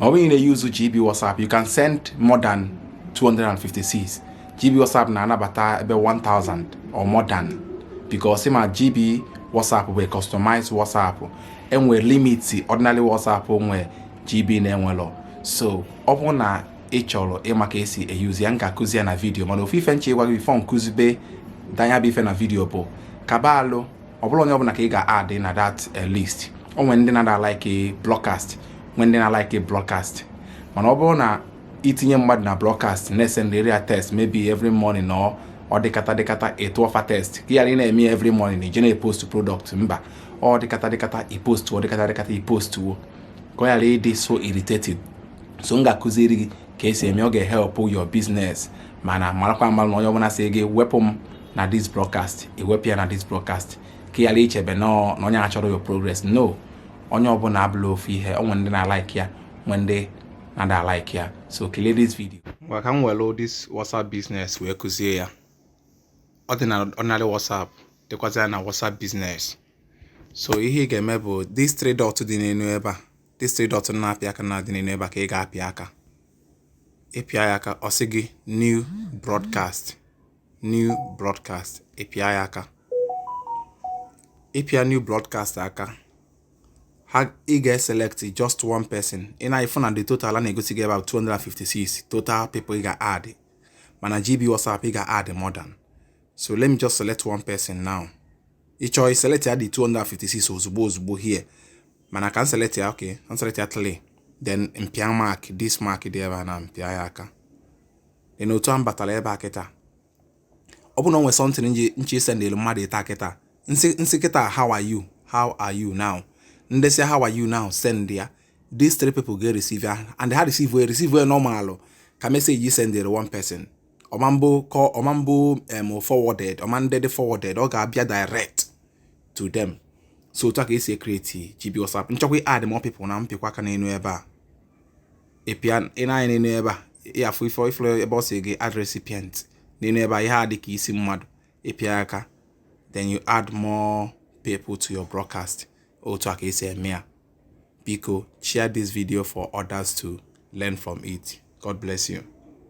ma ọ bụrụ ị na-euse GB WhatsApp you can send more than 256 GB WhatsApp na-anabata ebe 1000 or more than because ị ma GB WhatsApp bụ customized WhatsApp e nwe limit ordinary WhatsApp nwe GB na-enwelọ so ọ bụrụ na ị chọrọ ịma ka esi euse ya m ga-akụzi ya na video mana ofu ife m chọ ịgwa gị before m kụzibe the nya bụ ife na video bụ kaba alụ ọ bụrụ onye ọbụla ka ị ga-add na that eh, list o nwere ndị na-ada like broadcast nwee ndị na-like broadcast mana ọ bụrụ na i tinye mmadụ na broadcast na-esendịrị ya text maybe every morning ọ ọ dịkata dịkata ị tụọ fa text ka ị ghara ịna-eme every morning ị je na-epost product mba ọ dịkata dịkata ị post ọ dịkata dịkata ị postuo ka ọ ghara ịdị so irritated so m ga-akụziri gị ka esi eme ọ ga-ehelp your business mana marakwa amara na onye ọbụla sị gị wepụ m na this broadcast i wepụ ya na this broadcast ka ị ghara ichebe na onye achọrọ your progress no onye ọbụla abụlọ ofu ihe o nwe ndị na-like ya nwe ndị na-ada like ya so kilie this video ngwa ka m were this WhatsApp business wee kụzie ya ọ dị na ordinary WhatsApp dịkwazịa na WhatsApp business so ihe ị ga-eme bụ this three dot dị n'elu ebe a this three dot na-apịa aka na dị n'elu ebe a ka ị ga-apịa aka ị pịa ya aka ọ sị gị new broadcast new broadcast ị pịa ya aka ị pịa new broadcast aka ha ị ga-eselect just one person ị na-afụ na the total a na-egosi gị about 256 total people ị ga-add mana GB WhatsApp ị ga-add more than so let me just select one person now ị chọọ ị select ya the 256 ozugbo ozugbo here mana ka m select ya okay ka m select ya three then m pịa mark this mark dị ebe a na m pịa ya aka then otu a m batara ebe a kịta ọ bụrụ na o nwere something m ji m chọ isendịlụ mmadụ ịta kịta m sị m sị kịta how are you how are you now m desie how are you now send ya these three people ga receive ya and ha receive ya receive ya normal ka message ị sendịrị one person ọ ma abụ kọ ọ ma abụ em forwarded ọ ma adị dị forwarded ọ ga-abịa direct to them so otu a ka esi create GB WhatsApp m chọkwa add more people na m pịkwa aka n'elu ebe a ị pịa ị nee anya n'elu ebe a ị afụ ife ị fụrụ ebe ọ sị gị add recipient n'elu ebe a ihe a dị ka isi mmadụ ị pịa ya aka then you add more people to your broadcast otu a ka esi eme ya biko share this video for others to learn from it god bless you